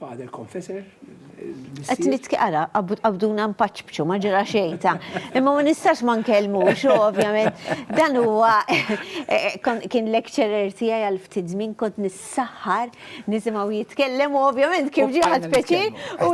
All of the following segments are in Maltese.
il-father confessor. Għet li t-kara, għabduna mpaċbċu, ma ġera xejta. Imma ma nistax ma nkellmu, xo, ovvjament. Dan huwa, eh, eh, kien lecturer tijaj għal-ftit zmin kont nis saħħar, nisimgħu jitkellem u ovvjament kif ġie ħadd peċi u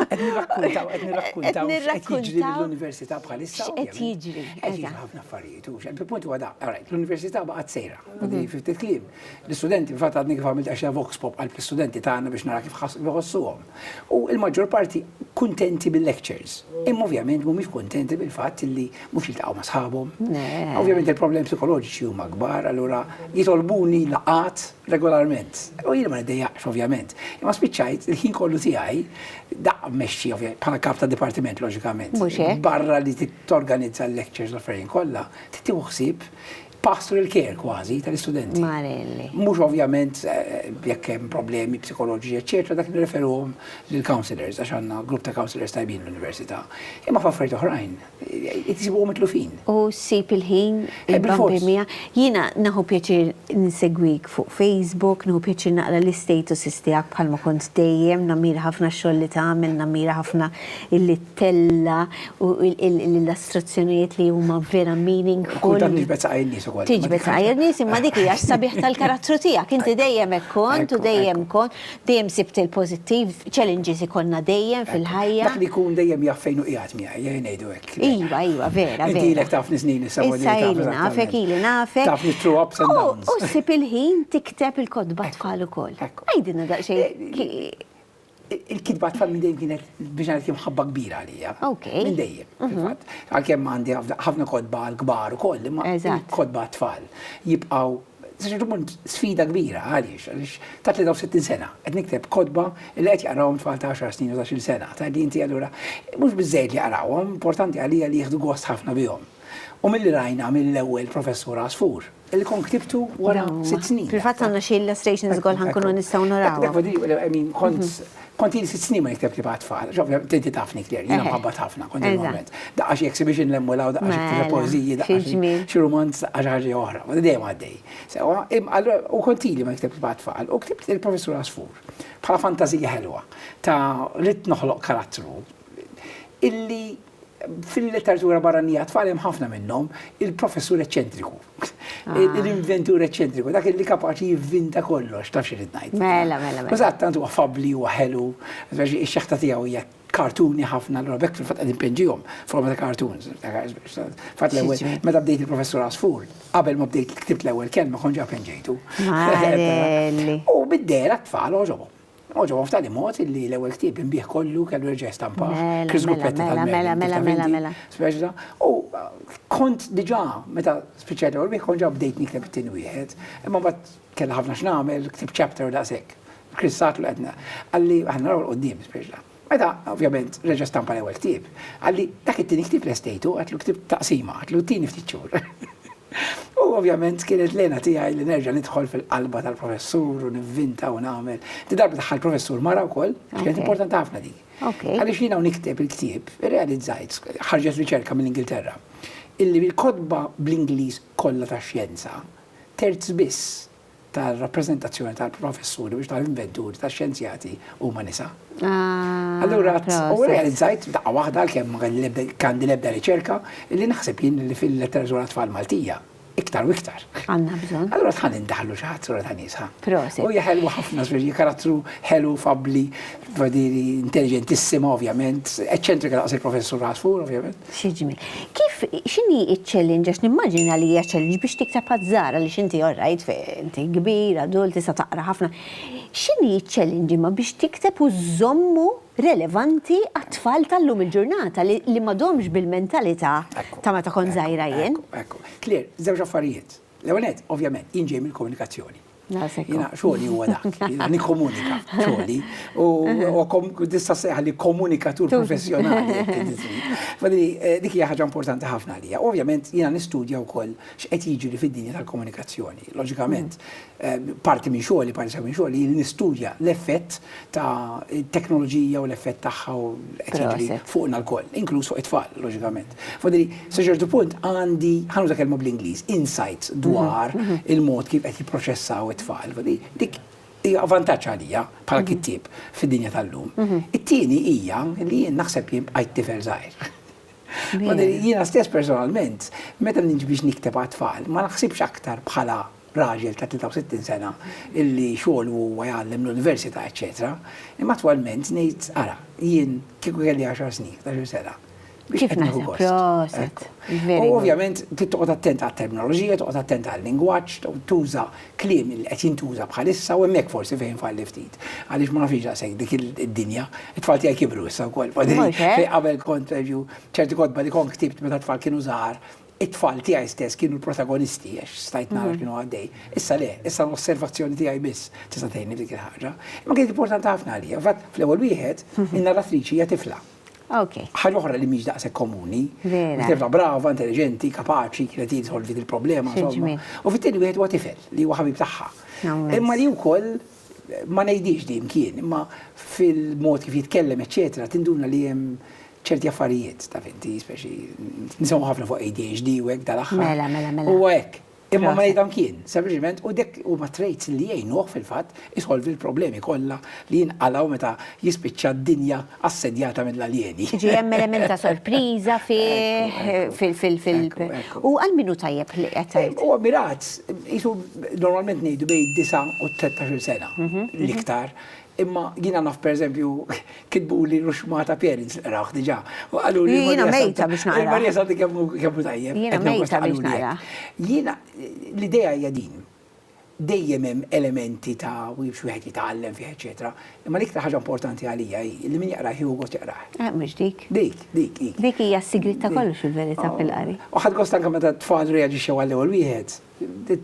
qed nirrakkuntaw l-Università bħalissa qed jiġri. Qed jiġri ħafna affarijiet u xejn punt huwa daqqa rajt l-Università baqgħet sejra. Mhm. Ftit kliem. L-istudenti fat għadni kif għamilt għax vox pop għal l-istudenti tagħna biex nara kif ħossuhom. U l-maġġor parti kuntenti bil-lectures. Imma ovvjament mhumiex kuntenti bil-fatt li mhux jiltaqgħu ma' sħabhom. Ovvjament il-problemi psikoloġiċi huma kbar, allura jitolbuni laqat regolarment. U jien ma niddejjaqx ovvjament. Imma spiċċajt il-ħin kollu tiegħi daqqa mmexxi bħala kap ta' dipartiment loġikament. Barra li torganizza l-lectures l-affarijiet kollha, tieħu ħsieb Pastru il-care kważi tal-istudenti. Marelli. Mhux ovvjament jekk hemm problemi psikoloġiċi, eċċetera, dak nirreferuhom lill-counselors għax għandna grupp ta' counselors tajbin l-università. Imma f'affarijiet oħrajn isibuhom mitlufin. U ssib il-ħin il-bambin miegħek. Jiena nieħu pjaċir insegwik fuq Facebook, nieħu pjaċir naqra l-istatuses tiegħek bħalma kont dejjem, nammira ħafna x-xogħol li tagħmel, nammira ħafna illi tella' u l-illustrazzjonijiet li huma vera meaningful. Kultant niġbed saqajja n-nies ukoll. Tiġbed saqajja n-nies imma dik hija s-sabiħ tal-karattru tiegħek. Inti dejjem hekk kont u dejjem kont, dejjem sibt il-pożittiv, challenges ikollna dejjem fil-ħajja. Dak li jkun dejjem jaf fejn hu qiegħed miegħi, ejja ngħidu hekk. Iva, iva, vera, vera. Inti ilek tafni snin issa u Issa ili nafek, ili nafek. Tafni through ups and downs. U ssib il-ħin tikteb il-kotba tfal ukoll. Għidilna daqsxejn. il-kitba tfal minn dejjem kienet biex ngħid kien ħabba kbira għalija. Minn dejjem, mhm. fil-fatt. Għalkemm għandi ħafna kodba l-kbar ukoll, imma kodba tfal jibqgħu Ġermund sfida kbira għaliex, għaliex ta' 63 sena, qed nikteb kodba li qed jaqrawhom tfal ta' 10 snin u 10 sena, ta' li inti allura mhux biżejjed li jaqrawhom, importanti għalija li jieħdu gost ħafna bihom. U mill-li rajna mill-ewwel professur Asfur, Li kont ktibtu wara sitt snin. Fil-fatt għandna xi illustrations ukoll ħankunu nistgħu naraw. Kont kont jien sitt snin ma nikteb li bħat tfal. Tinti tafni ktir, jiena mħabbat ħafna kont il-moment. Daqqa xi exhibition lemmu law daqqa xi poeżiji daqqa xi rumanz daqqa xi ħaġa oħra. Dejjem għaddej. Sewwa, allura u kont ili ma nikteb li bħat tfal u ktibt il-Professur Għasfur bħala fantażija ħelwa ta' ridt noħloq karattru illi Fil-letteratura barranija għat-tfal hemm ħafna minnhom il-professur eċċentriku, ah. l-inventur eċċentriku, dak li kapaċi jivvinta kollox, taf xi ngħid. Mela, mela, mela. Eżatt, tant huwa fabbli huwa ħelu, ix-xeħta tiegħu hija kartuni ħafna l bekk fil-fatt qegħdin penġihom forma ta' kartuns. Fatt l-ewwel meta bdejt il-professur Asfur, qabel ma bdejt ktibt l-ewwel kelma konġa penġejtu. U bid-dera tfal oġobhom. Oġobhom f'tali mod li l-ewwel ktieb inbih kollu kellu reġa' jistampah. Chris Guppetti tal-Mela, mela, mela, mela. Speċta, u kont diġà meta spiċċajt l-ewwel bih kont ġa bdejt nikteb it-tieni wieħed, imma bad kellha ħafna x'nagħmel, ktibt chapter daqshekk. Chris Satlu qedna. Qalli aħna naraw l-qudiem speċta. Meta, ovvjament, reġa' stampa l-ewwel ktieb, qalli dak it-tieni ktieb lestejtu, għatlu ktieb taqsima, għatlu t-tieni ftit xhur. U ovvjament kienet lena tiegħi li nerġa' nidħol fil-qalba tal-professur u nivvinta u nagħmel. Di darba daħħal professur mara wkoll, kienet importanti ħafna dik. Għaliex jiena nikteb il-ktieb, irrealizzajt, ħarġet riċerka mill-Ingilterra, illi bil-kotba bl-Ingliż kollha tax-xjenza, terz biss tar-rappreżentazzjoni tal-professuri biex tal-inventuri tax-xjenzjati huma nisa. Ah, Allura, u proset. realizzajt f'daqqa waħda għalkemm ma kelli l-ebda- kandi l-ebda riċerka li naħseb jien li fil-letteratura tfal Maltija iktar u iktar. Għandna bżonn. Allura tħan indaħlu xi ħadd sura ta' nisa. Proset. U hija ħelwa ħafna żwieġi, karattru ħelu, fabbli, vadiri, intelligentissima ovvjament, eċċentrika daqs il-professur Asfur ovvjament. Xi ġmiel. Kif x'inhi ċ-challenge għax nimmaġina li hija challenge biex tikteb għaż-żgħar għaliex inti all right inti kbir, adult, tista' taqra ħafna. X'inhi ċ-challenge imma biex tikteb u żżommu relevanti għat-tfal tal-lum il-ġurnata li ma domx bil-mentalità ta' meta kont żgħira jien? Ekku, ekku. Claire, żewġ affarijiet. L-ewwel nett, ovvjament, jien ġej mill-komunikazzjoni. Jiena xogħli huwa dak, jiena nikkomunika xogħli u tista' sejħali komunikatur professjonali. Eh, dik hija ħaġa importanti ħafna għalija. Ovvjament jiena nistudja wkoll x'qed jiġri fid-dinja tal-komunikazzjoni. Loġikament, eh, parti minn xogħli, parti minn xogħli nistudja l-effett ta' teknoloġija u l-effett tagħha u qed jiġri fuqna lkoll, inkluż fuq it-tfal, loġikament. Fadili, sa ċertu punt għandi, ħa nuża kelma bl-Ingliż, insights dwar il-mod kif qed jipproċessaw it-tfal. Dik hija vantaġġ għalija bħala kittieb fid-dinja tal-lum. It-tieni hija li jien naħseb jien bqajt tifel żgħir. Jiena stess personalment, meta niġi biex nikteb għat-tfal, ma naħsibx aktar bħala raġel ta' 63 sena illi xogħlu huwa jgħallem l-università eċċetera, imma attwalment ngħid ara, jien kieku kelli għaxar snin, ħdax-il sena, biex Kif qed nieħu naħseb? gost. Proset. Ekk. Very U good. ovvjament trid toqgħod attent għat-terminoloġija, toqgħod attent għal-lingwaġġ, to- tuża kliem li qed jintuża bħalissa u hemmhekk forsi fejn falli ftit. Għaliex ma nafx daqshekk dik il- id-dinja, it-tfal tiegħi kibru issa wkoll. Mhux hekk? Fejn qabel kont pereżempju ċerti kotba li kont ktibt meta t-tfal kienu żgħar, It-tfal tiegħi stess kienu l-protagonisti għax stajt nara x'kienu għaddej. Issa le, issa l-osservazzjoni tiegħi biss tista' tgħinni f'dik il-ħaġa. Imma kienet importanti ħafna għalija. Fatt, fl-ewwel wieħed, in-narratriċi hija tifla. Ħaġa oħra li mhix daqshekk komuni. Tifla brava, intelliġenti, kapaċi, kienet hi tsolvi dil-problema, insomma. U fit-tieni wieħed huwa tifel li huwa ħabib tagħha. Imma li wkoll ma ngħidhiex dejjem kien, imma fil-mod kif jitkellem eċċetera tinduna li hemm ċerti affarijiet, taf inti, speċi nisimgħu ħafna fuq ADHD u hekk dal-aħħar. Mela, mela, mela. Huwa hekk. Imma ma ngħidhom kien, sempliċement u dek huma traits li jgħinuh fil-fatt isolvi l-problemi kollha li jinqalgħu meta jispiċċa d-dinja assedjata mill-aljeni. Tiġi hemm element ta' sorpriża fih, fil, fil, fil, u għal min hu tajjeb li qed tgħid? Huwa mirat, qisu normalment ngħidu bejn id-disa' u t-tlettax-il sena, l-iktar, imma jiena naf pereżempju kitbuli ruxxmata parents li qrawh diġà, u qaluli Marija Santa. Jiena mejta biex naqrah. Marija Santa kemm hu, kemm hu tajjeb. Jiena mejta biex naqrah. Jiena, l-idea hija din, Dejjem hemm elementi ta' biex wieħed jitgħallem fih eċċetera, imma l-iktar ħaġa importanti għalija hi li min jaqrah jieħu gost jaqrah. Eh, mhux dik. Dik, dik, dik. Dik hija s-sigriet ta' kollox fil-verità fil-qari. U ħadt gost anke meta t-tfal reaġixxew għall-ewwel wieħed,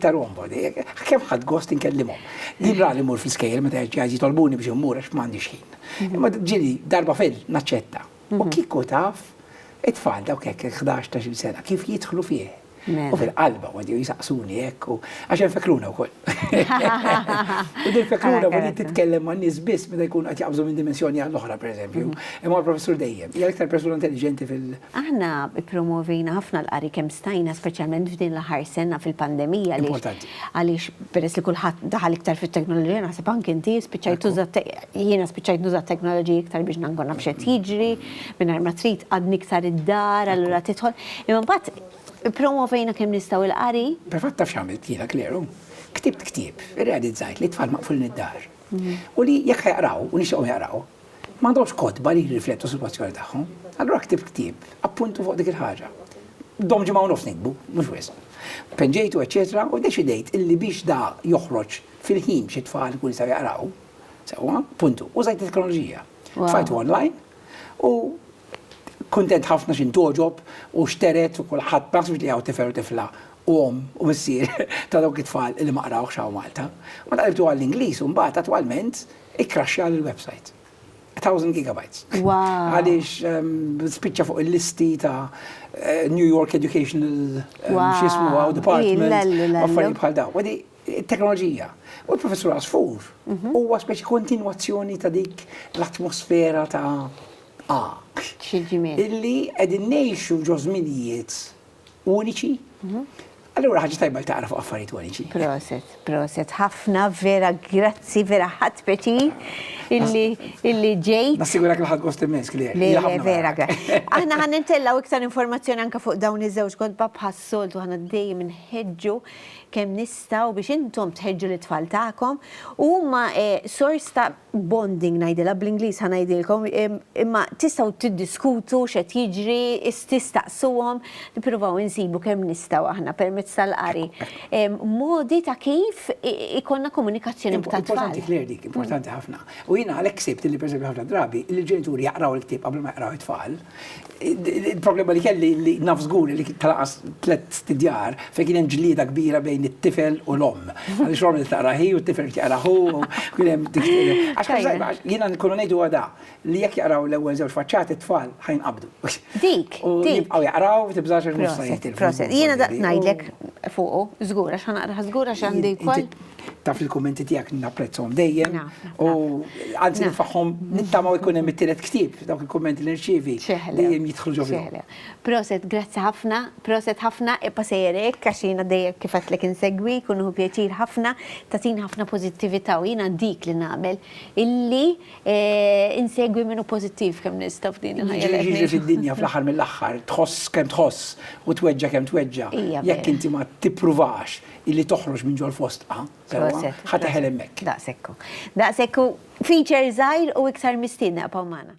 ta' rombo di. Kemm ħadt gost inkellimhom. Din rali mmur fl-iskejjel meta jitolbuni biex immur għax m'għandix ħin. Imma ġieli darba fil naċċetta. U kieku taf, it-tfal dawk hekk il-ħdax ta' sena kif jidħlu fih. U fil-qalba għodju jisaqsuni hekk u għax hemm fekruna wkoll. U din fekruna ma li titkellem ma' nies biss meta jkun qed jaqbżu minn dimensjoni għall oħra pereżempju. Mhm. Imma professur dejjem, hija iktar persuna intelligenti fil- Aħna promovina ħafna l-qari kemm stajna speċjalment f'din l-aħħar sena fil-pandemija li. Importanti. Għaliex peress li kulħadd daħal iktar fit-teknoloġija, naħseb anke inti spiċċajt tuża jiena spiċċajt nuża t-teknoloġija iktar biex nkun naf x'qed jiġri, mingħajr ma trid għadni iktar id-dar, allura tidħol. Imma mbagħad ippromovejna kemm nistgħu l-qari. Provat taf x'għamilt jiena kleru. Ktibt ktieb, irrealizzajt li t-tfal maqfulin id-dar. U li jekk ħajaqraw u nixtieqhom jaqraw, M'għandhomx kotba li jirriflettu s-sitwazzjoni tagħhom. Allura ktibt ktieb, appuntu fuq dik il-ħaġa. Dom ġimgħa u nofs nikbu, mhux wisq. Penġejtu, eċċetera, u ddeċidejt illi biex da joħroġ fil-ħin xi tfal ikunu jistgħu jaqraw, sewwa, puntu, użajt it-teknoloġija. Tfajtu online u kuntent ħafna x'in togħġob u xteret u kulħadd ma naħsibx li hawn tifel u tifla u omm u missier ta' dawk it-tfal li ma qrawhx hawn Malta. Ma taqlibtu għall-Ingliż u mbagħad attwalment Ikkraxxja l-website. 1000 gigabytes. Wow. Għaliex ehm, spiċċa fuq il-listi ta' eh, New York Educational ehm, xismu għaw department. Affarijiet bħal daw. Għadi, teknoloġija. U l-professur Asfur mhm. huwa speċi kontinwazzjoni ta' dik l-atmosfera ta' A. Illi qegħdin ngħixu ġo żminijiet uniċi. Allura ħaġa tajba li taqra fuq affarijiet uniċi. Proset, proset, ħafna vera grazzi vera ħadd peċi illi illi ġej. Nassigura kien ħadd gost immens kli. Le, vera grazzi. Aħna ħan nintellaw iktar informazzjoni anke fuq dawn iż-żewġ kodba bħas-soltu ħana dejjem inħeġġu kemm nistgħu biex intom tħeġġu l-tfal tagħkom u huma eh, sors ta' bonding ngħidilha, bl-Ingliż ħa ngħidilkom, imma tistgħu tiddiskutu x'qed jiġri, tistaqsuhom, nippruvaw insibu kemm nistgħu aħna permezz tal-qari. Modi ta' kif ikollna komunikazzjoni b'tat. Importanti kler dik, importanti ħafna. U jiena għalhekk sibt li pereżempju ħafna drabi li l-ġenituri jaqraw il-ktieb qabel ma jaqraw it-tfal. Il-problema li kelli li naf żgur li tlaqqas tliet stidjar fejn kien hemm ġlieda kbira bejn it-tifel u l-omm. Għaliex l-omm li taqra hi u t-tifel jaqra hu, kien hemm dik Għax jiena nkunu ngħid huwa da li jekk jaqraw l-ewwel żewġ faċċati t-tfal ħa jinqabdu. Dik, dik. U jibqgħu jaqraw u tibżax għax mhux se jitilfu. Proset, jiena daqt ngħidlek fuqu, żgur għax ħa naqrah żgur għax għandi wkoll. Taf il-kummenti tiegħek napprezzhom dejjem. U anzi nifaħħom nittamaw ikun hemm it-tielet ktieb dawk il-kummenti li nirċievi dejjem jidħlu ġo fihom. Proset, grazzi ħafna, proset ħafna, ibqa' sejjer hekk għax jiena dejjem kif għedtlek insegwik u nieħu pjaċir ħafna, tagħtini ħafna pożittività u jiena dik li nagħmel illi insegwi min hu pożittiv kemm nista' f'din il-ħajja. Jiġri jiġri fid-dinja fl-aħħar mill-aħħar tħoss kemm tħoss u tweġġa' kemm tweġġa'. Jekk inti ma tippruvax illi toħroġ minn ġol fostqa, sewwa, ħa teħel hemmhekk. Daqshekk hu. Daqshekk hu feature żgħir u iktar mistiedna bqgħu magħna.